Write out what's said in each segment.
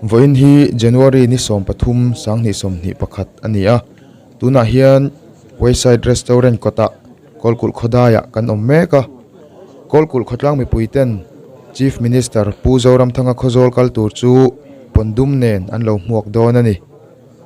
Vawiin hi January ni sawm pathum sang hnih sawm hnih pakhat a ni a, tunah hian Wayside Restaurant kawtah Kawlkulh khawdaiah kan awm mek a. Kawlkulh khawtlang mipuiten Chief Minister Pu Zoramthanga khaw zawl kal tur chu pawn dum nen an lo hmuak dawn a ni.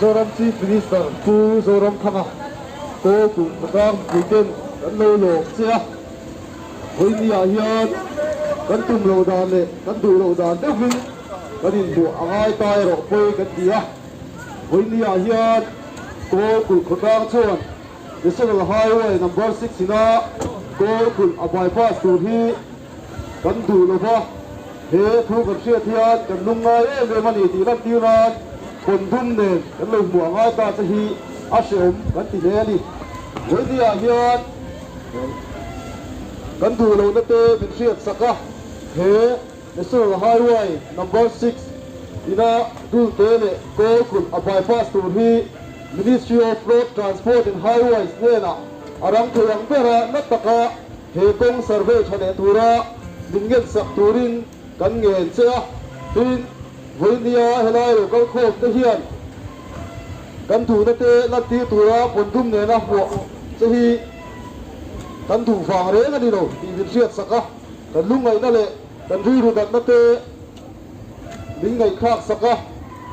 Zoram Chief Minister Pu Zoramthanga kawl kum rang puiten kan lo lawm che a, Heuhniah hian kan tum lo dan leh kan duh lo dan deuhin kan inbuah a ngai ta erawh pawi kan ti a, Heuhniah hian kawl kulh khawtlang chuan, National Highway number six ina kawl kulh a bypass tur hi kan duh lo va, he thu kan hriat hian kan lung ngai em em a ni tih lantir nan pawn dum nen kan lo hmuh a ngai ta che hi a hrehawm kan ti hle a ni. Vawinia ah hian kan duh lohna te min hriat sak a, he. National Highway Number six ina dulte leh kawl kulh a bypass tur hi Ministry of Road Transport and Highways hnenah a rang theih ang ber a, na taka he kawng survey tha leh tura min ngensak turin kan ngen che a. Tin, vawinia helai lo kal khawm te hian kan duhna te lantir tura pawn dum nena hmuah che hi kan duh vang reng a ni lo tih min hriatsak a. Kan lungngaihna leh kan rilru natna te min ngaihthlak sak a,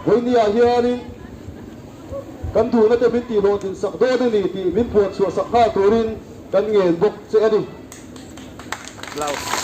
vawinia hianin kan duhna te min tihhlawh din sak dawn a ni tih min puan chhuah sak nghal turin kan ngen bawk che a ni. Blouse.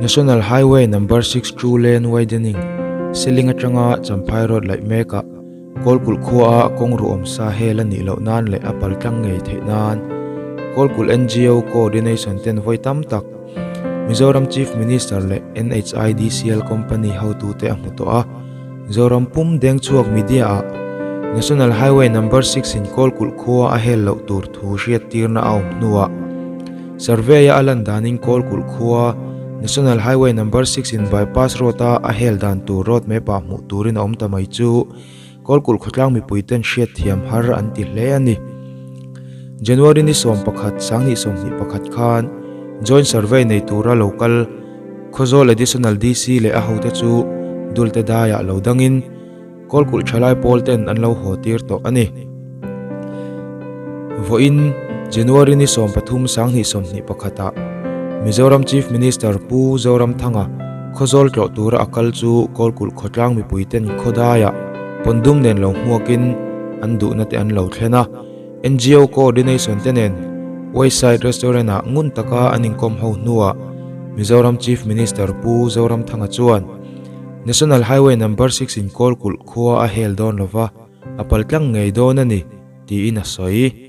National highway number six two lane widening ceiling atanga champhai road laih mek ah-- Kawlkulh khuaa a kawng ruhawm sa hel a nih loh nan leh a pal tlang ngei theih nan Kawlkulh NGO Co-ordination ten vawi tam tak, Mizoram Chief Minister leh NHIDCL company hotu te a hmu tawh a. Zoram pum deng chhuak media ah National Highway Number six in Kawlkulh khua a hel loh tur thu hriat tirna a awm hnuah, Survey a a lan danin Kawlkulh khua National Highway Number six in Bypass Road a a hel dan tur road map ah hmuh turin a awm ta mai chu Kawlkulh khawtlang mipui ten hriat thiam har an ti hle a ni. January ni sawm pakhat Sangni sawmhnih pakhat khan Joint Survey nei tura lo kal Khawzawl Additional DC leh a hote chu Dulte daiah lo dangin, Kawl kulh tha lai pawl ten an lo haw tir tawh a ni. Vawiin January ni sawm pathum sanghnih sawmhnih pakhat ah Mizoram Chief Minister Pu Zoramthanga khawzawl tlawh tura a kal chu kawl kulh khawtlang mipui ten khawdai ah pawn dum nen lo hmuak in an duhna te an lo thlen a. NGO coordination te nen Wayside Restaurant ah ngun taka an inkawm ho hnu ah Mizoram Chief Minister Pu Zoramthanga chuan National Highway Number six in Kawlkulh khua a hel dawn lo va, a pal tlang ngei dawn a ni, tiin a sawi.